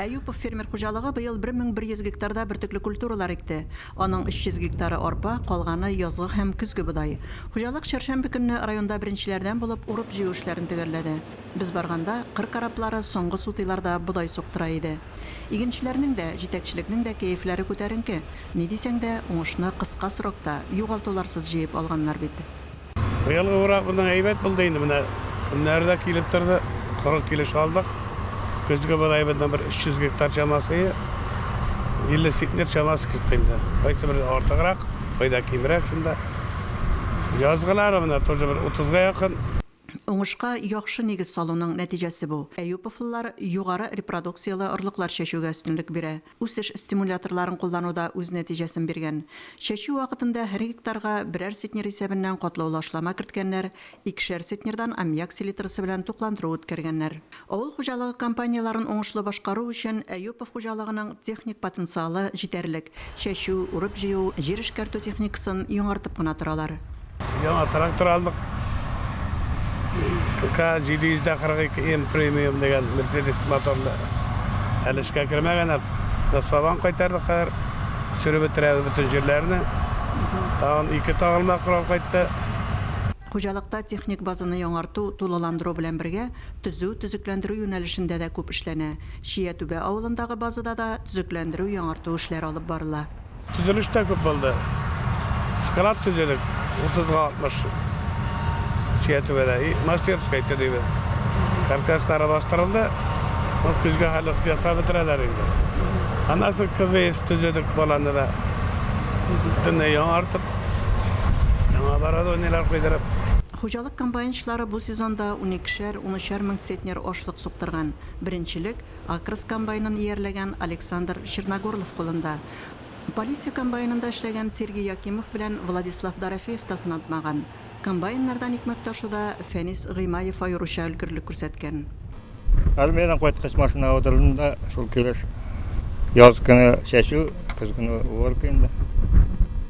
Әюпов фермер хуҗалыгы быел 1100 гектарда бөртекле культуралар икте. Аның 300 гектары, арпа, калганы, язгы һәм көзге бодае. Хуҗалык чәршәмбе көнне районда беренчеләрдән булып урып-җыю эшләрен төгәлләде. Без барганда, кыр кораблары соңгы сутыйларда бодай суктыра иде. Игенчеләрнең дә, җитәкчелекнең дә кәефләре күтәренке. Ни дисәң дә, уңышны кыска срокта, югалтуларсыз җыеп алганнар бит. Быелгы урак моннан әйбәт булды инде, менә көннәр дә килеп торды, 40 килеш алдык. Көзге бодайыбызның бер 300 гектар чамасы, 50 центнер чамасы китте инде. Кайсы бер артыграк, кайда кимрәк шунда. Язгылары менә тоже бер 30-га якын. Уңышка яхшы нигез салуның нәтиҗәсе бу. Әюповлылар югары репродукцияле орлыклар чәчүгә өстенлек бирә. Үсеш стимуляторларын куллану да үз нәтиҗәсен биргән. Чәчү вакытында һәр гектарга берәр центнер исәбеннән катлаулы ашлама керткәннәр, икешәр центнердан аммиак селитрасы белән тукландыру үткәргәннәр. Авыл хуҗалыгы компанияләрен уңышлы башкару өчен Әюпов хуҗалыгының техник потенциалы җитәрлек, чәчү, урып-җыю, җир эшкәртү техникасын яңартып кына торалар. Яңа трактор алдык. КК-742М премиум дигән Мерседес моторлы. Әле эшкә кермәгән ат. Без сабан кайтардык хәзер. Сөреп бетерәбез бөтен җирләрне. Тагын ике тагылма корал кайтты. Хуҗалыкта техник базаны яңарту, тулыландыру белән бергә, төзү, төзекләндерү юнәлешендә дә күп эшләнә. Чия Түбә авылындагы базада да төзекләндерү, яңарту эшләре алып барыла. Төзелеш тә күп булды. Склад төзедек, 30 га 60 тирә түбәдә. И мастерская төзибез. Каркаслары бастырылды. Ну, көзгә хәле ясап бетерәләр инде. Аннан соң КЗС төзедек баланы да. Бөтенләй яңартып, яңа оборудованиеләр куйдырып. Хуҗалык комбайнчылары бу сезонда уникешәр, унөчәр мең центнер ашлык суктырган. Беренчелек, Акрс комбайнын иярләгән Александр Черногорлов кулында. Полиция комбайнында эшләгән Сергей Якимов белән Владислав Дорофеев та сынатмаган. Комбайннардан икмәк ташуда Фәнис Гыймаев аеруча өлгерлек күрсәткән. Армиядән кайткач, машинага утырдым да, шул килеш яз көне чәчү, көз көне уборка инде.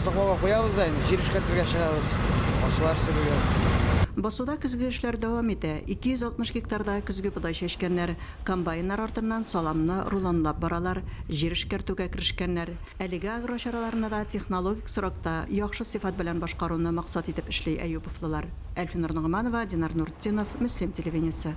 Саклауга куябыз да инде, җир эшкәртергә чыгабыз, ашлар сөрергә. Басуда көзге эшләр дәвам итә. 260 гектарда көзге бодай чәчкәннәр. Комбайннар артыннан саламны рулонлап баралар, җир эшкәртүгә керешкәннәр. Әлеге агрочараларны да технологик срокта, яхшы сыйфат белән башкаруны максат итеп эшли әюповлылар. Әлфинур Ногманова, Динар Нуртдинов, Мөслим телевидениесе.